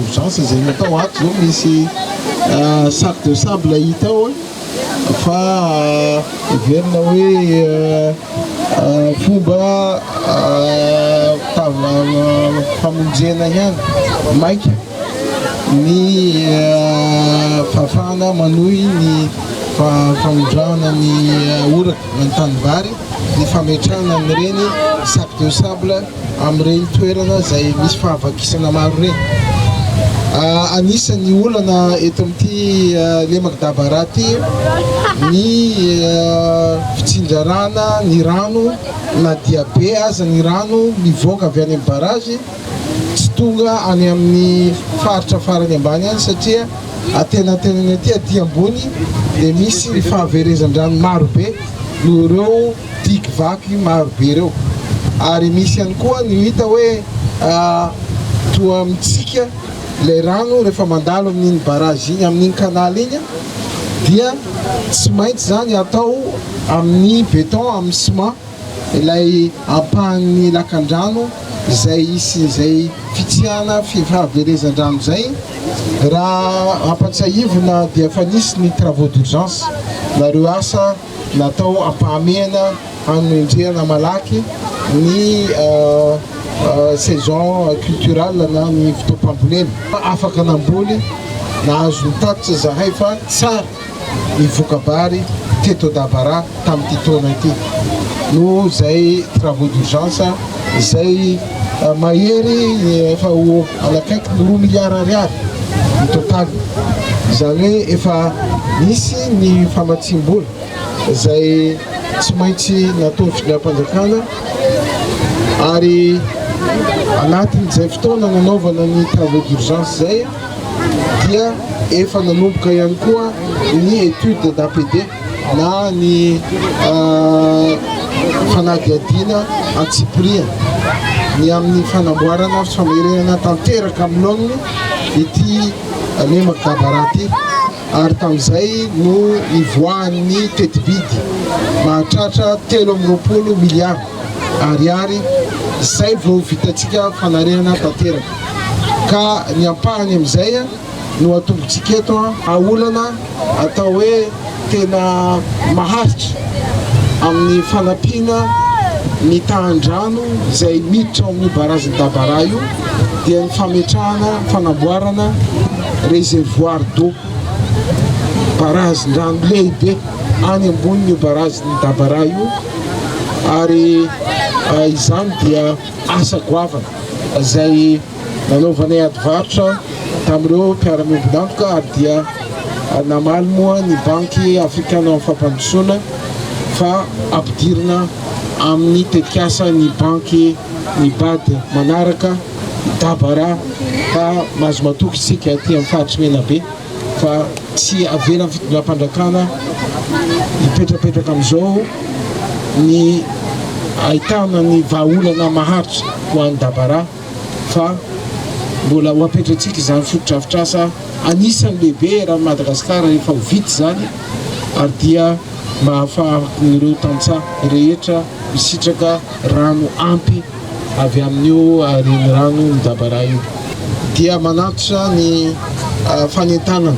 Urgence izay natao ato izao misy euh, sac de sable hita ao fa euh, heverina hoe euh, fomba famonjena ihany maika ny fahafahana manohy ny famindràna ny orana na ny tanimbary, ny fametrahana an'ireny sac de sable amin'ireny toerana izay misy fahavakisana maro ireny. Anisan'ny olana eto amin'ity lemaka Dabara ity ny fitsinjarana ny rano na dia be aza ny rano mivoaka avy any amin'ny barrage, tsy tonga any amin'ny faritra farany ambany any satria antenantenany aty aty ambony dia misy ny fahaverezan-drano maro be noho ireo digue vaky maro be ireo ary misy ihany koa ny hita hoe toa mitsika ilay rano rehefa mandalo amin'iny barrage iny amin'iny canal iny dia tsy maintsy izany atao amin'ny béton amin'ny ciment Ilay ampahan'ny lakandrano izay hisian'izay fitsihana fahaverezan-drano izay, raha ampatsiahivina dia efa nisy ny travaux d'urgence na ireo asa natao ampahamehana hanendrehana malaky ny saison culturale na ny fotoam-pambolena. Afaka namboly, nahazo ny tatitra izahay fa tsara. mivoka-bary teto Dabara tamin'ity taona ity noho izay travaux d'urgence izay mahery efa ho any akaiky ny roa milliards ariary ny total, izany hoe efa nisy ny famatsiam-bola izay tsy maintsy nataon'ny fitondram-panjakana ary anatin'izay fotoana nanaovana ny travaux d'urgence izay. dia efa nanomboka ihany koa ny étude d'APD na ny fanadihadiana an-tsipiriany ny amin'ny fanamboarana sy famerenana tanteraka amin'ny laoniny ity lemaka barà ity. ary tamin'izay no nivoahan'ny tetibidy mahatratra telo amby roapolo miliara Ariary izay vao vitantsika fanarihana tanteraka ka ny ampahany amin'izay no atombontsika eto. Olana atao hoe tena maharitra amin'ny fanampiana ny tahan-drano izay miditra ao amin'ny Barazin'i Dabara io dia ny fametrahana, fanamboarana, Réservoir d'eau, barazin-drano lehibe any ambony io barazin'i Dabara io ary izany dia asa goavana izay nanaovanay ady varotra tamin'ireo mpiara-miombon'antoka ary dia namaly moa ny Banky Afrikanan'ny Fampandrosoana fa ampidirina amin'ny tetikasa ny banky ny BAD manaraka dabara ka mahazo matoky isika aty amin'ny faritry Menabe fa tsy avelan'ny fitondram-pandrakana hipetrapetraka amin'izao ny ahitana ny vahaolana maharitra ho an'ny dabara fa mbola ho apetratsika izany fotodrafitrasa anisany lehibe eran'i Madagasikara rehefa ho vita izany ary dia mahafaha ireo tantsaha rehetra misitraka rano ampy avy amin'io renirano midabaraha io dia manatitra ny fanentanana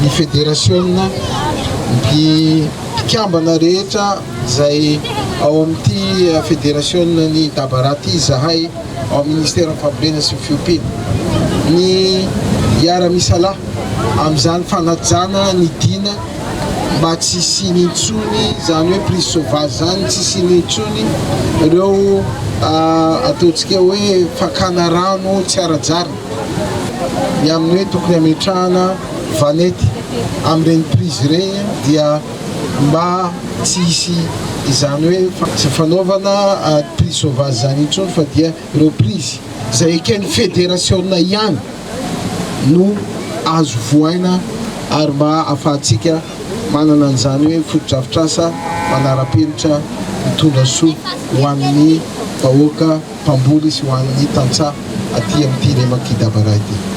ny federasiona, ny mpikambana rehetra izay ao amin'ity federasionan'i Dabaraha ity izahay ao amin'ny Ministeran'ny Fambolena sy ny Fiompiana, ny hiara-misalahy amin'izany fanajana ny dina. mba tsy hisiany intsony izany hoe prise sauvage izany tsy hisiany intsony ireo ataontsika hoe fakana rano tsy ara-jarina ny amin'ny hoe tokony hametrahana vanety amin'ireny prise ireny dia mba tsy hisy izany hoe tsy fanaovana prise sauvage izany intsony fa dia Reprise izay eken'ny federasiona ihany no azo vohaina ary mba ahafahantsika manana an'izany hoe fotodrafitrasa manara-penitra mitondra soa ho an'ny vahoaka mpamboly sy ho an'ny tantsaha aty amin'ity Remakidabara ity.